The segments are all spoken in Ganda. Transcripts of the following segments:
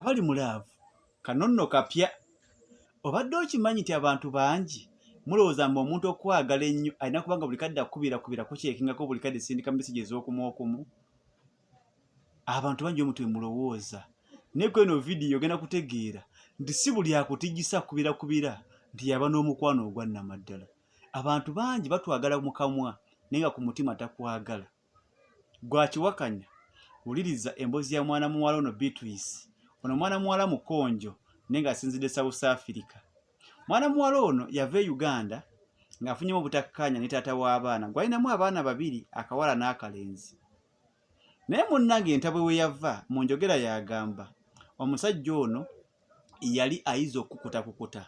abali mu laavu kano nno kapya obadde okimanyi nti abantu bangi mulowooza mba omuntu okwagala ennyo alina kubanga buli kadde akubira kubira kukyekingako buli kadde sindika mesegi ez'okumu okumu abantu bangi omuntu emulowooza naye ku eno vidiyo ogenda kutegeera nti si buli akutijisa kubira kubira nti yaba n'omukwano ogwannamaddala abantu bangi batwagala mukamwa naye nga ku mutima takwagala gwakiwakanya wuliriza embozi ya mwana muwala ono beatrice ono mwana muwala mukonjo naye ngaasinzidde south africa mwana muwala ono yava e uganda ng'afunyemu obutakkaanya ne taata w'abaana gwalinamu abaana babiri akawala n'akalenzi naye munnange entabwe we yava mu njogera yagamba omusajja ono yali ayiza okukutakukuta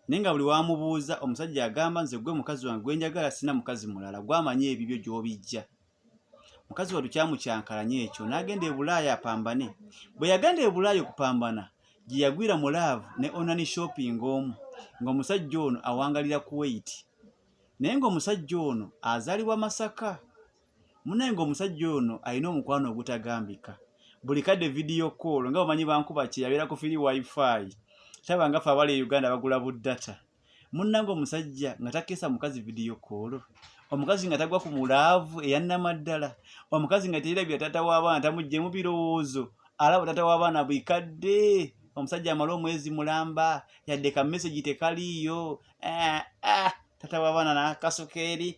naye nga buli wamubuuza omusajja agamba nze gwe mukazi wange gwenjagala sina mukazi mulala gwamanyi ebibyo gyobijja mukazi watu kyamukyankalanye ekyo nagenda ebulaaya apambane bwe yagenda ebulaaya okupambana gye yagwira mu laavu ne onani shopping omu ng'omusajja ono awangalira kuwait naye ng'omusajja ono azaalibwa masaka munaye nga omusajja ono alina omukwano ogutagambika buli kadde vidiyo koolo nga bamanyi bankuba kye yabeera ku firi wifi taba nga fe abali e uganda bagula buddata munnanga omusajja nga takeesa mukazi vidiyo koolo omukazi nga tagwa ku mulaavu eyannamaddala omukazi nga teyirabira taata w'abaana tamuggyemu birowoozo alaba taata w'abaana bwikadde omusajja amala omwezi mulamba yadde ka mesegi tekaliiyo eh, eh, taata w'abaana nakasuka eri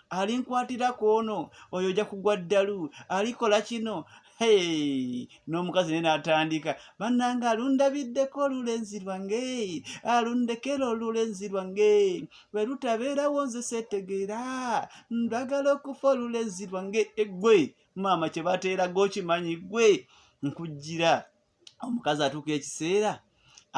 alinkwatirako ono oyo ojja kugwa ddalu alikola kino n'omukazi naye n'atandika bannanga alundabiddeko olulenzi lwange alundekera olulenzi lwange bwe lutabeerawo nze seetegeera ndagala okufa olulenzi lwange eggwe maama kye bateeraga okimanyi ggwe nkujjira omukazi atuuka ekiseera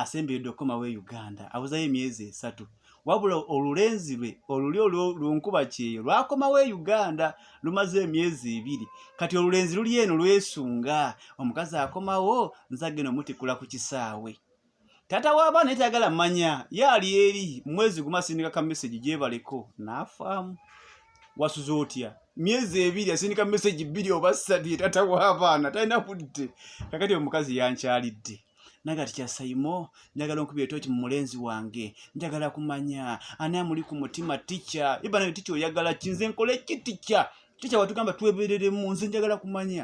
asemberedde okukomawo e uganda abuzayo emyezi esatu wabula olulenzi lwe oluli olwonkuba kyeyo lwakomawo e uganda lumaze emyezi ebiri kati olulenzi luli eno lwesunga omukazi akomawo nzagenda omutikula ku kisaawe tata w'abaana etayagala manya ye ali eri mwezi guma asindika ka mesegi gyebaleko n'afaamu wasuze otya myezi ebiri asindika mesegi bbiri oba ssatu ye tata w'abaana talina budde kakati omukazi yankyalidde naye kati kyasayimo njagala onkuba etoki mu mulenzi wange njagala kumanya ani amuli ku mutima tica ibana tica oyagala kinze nkole ki tica tica watugamba twebereremu nze njagala kumanya